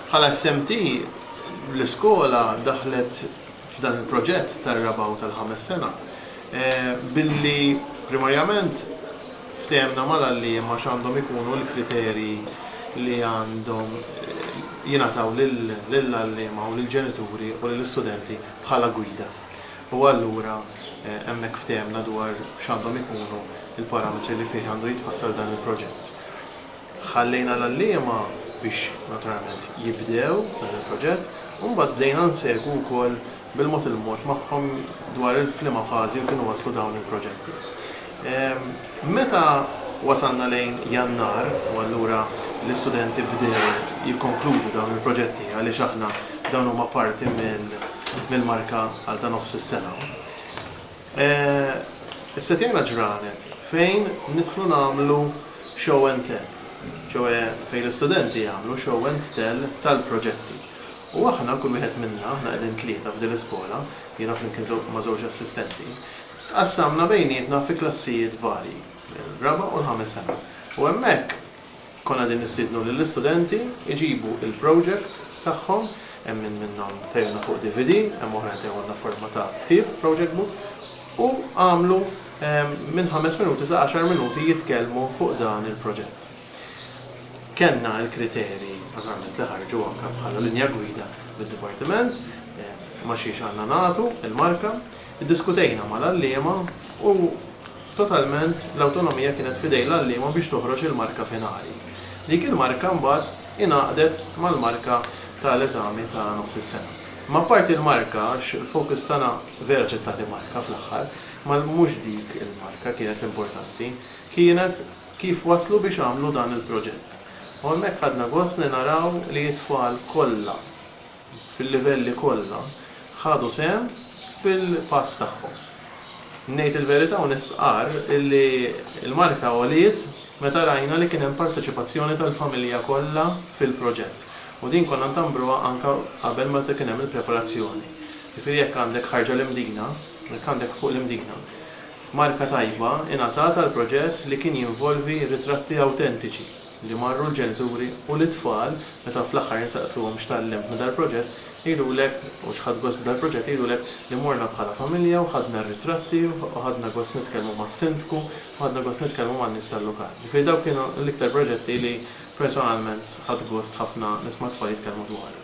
Bħala SMT, l-iskola daħlet f'dan il-proġett tar-raba' u tal-ħames sena billi primarjament ftehemna mal-għalliema x'għandhom ikunu l-kriterji li għandhom jingħataw lill-għalliema u lill-ġenituri u lill-istudenti bħala gwida u allura hemmhekk ftehemna dwar x'għandhom ikunu l-parametri li fih għandu jitfassal dan il-proġett. Ħallejna l-għalliema biex naturalment jibdew dan il-proġett u mbagħad bdejna nsegwu wkoll bil-mod il-mod magħhom dwar f'liema fażi u kienu waslu dawn il-proġetti. Meta wasalna lejn Jannar u allura l-istudenti bdew jikkonkludu dawn il-proġetti għaliex aħna dawn huma parti mill-marka għal ta' nofs is-sena. Issa tgħinna ġranet fejn nidħlu nagħmlu show and tell, ċoe fejn l-istudenti jagħmlu show and tell tal-proġetti. U aħna, kull wieħed minna, aħna qegħdin tlieta f'din l-iskola, jiena flimkien ma' żewġ assistenti, tqassamna bejnietna fi klassijiet varji, ir-raba' u l-ħames sena. U hemmhekk. Konna qegħdin nistiednu lill-istudenti jġibu l-project tagħhom, hemm min minnhom tehilna fuq DVD, hemm oħrajn tehuhna f'forma ta' ktieb, project book, u għamlu minn ħames minuti sa għaxar minuti jitkellmu fuq dan il-proġett. Kellna l-kriterji naturalment li ħarġu anke bħala linja gwida mid-dipartiment, ma' xiex għandna nagħtu l-marka. Iddiskutejna mal-għalliema u totalment l-awtonomija kienet f'idejn l-għalliema biex toħroġ il-marka finali. Dik il-marka mbagħad ingħaqdet mal-marka ta' l-eżami ta' nofs is-sena. Imma apparti l-marka, għax il-focus tagħna vera ġiet tagħti marka fl-aħħar, imma mhux dik il-marka kienet l-importanti, kienet kif waslu biex għamlu dan il-proġett. U hemmhekk ħadna gost li naraw li t-tfal kollha, fil-livelli kollha, ħadu sehem fil-pass tagħhom. Ngħid il-verità u nistqarr illi l-marka għoliet meta rajna li kien hemm parteċipazzjoni tal-familja kollha fil-proġett u din konna ntambruha anke qabel meta kien hemm il-preparazzjoni. Jiġifieri jekk għandek ħarġa l-Imdina, jekk għandek fuq l-Imdina, marka tajba ingħatat għall-proġett li kien jinvolvi ritratti awtentiċi. li marru l-ġenituri u lit-tfal meta fl-aħħar insaqsuhom x'tgħallimt minn dal-proġett jgħidulek u x'ħadt gost b'dal-proġett jgħidulek li morna bħala familja u ħadna r-ritratti u ħadna gost nitkellmu mas-Sindku u ħadna gost nitkellmu man-nies tal-lokal. Ġifieri dawk kienu l-iktar proġetti li personalment ħadt gost ħafna nisma' t-tfal jitkellmu dwarhom.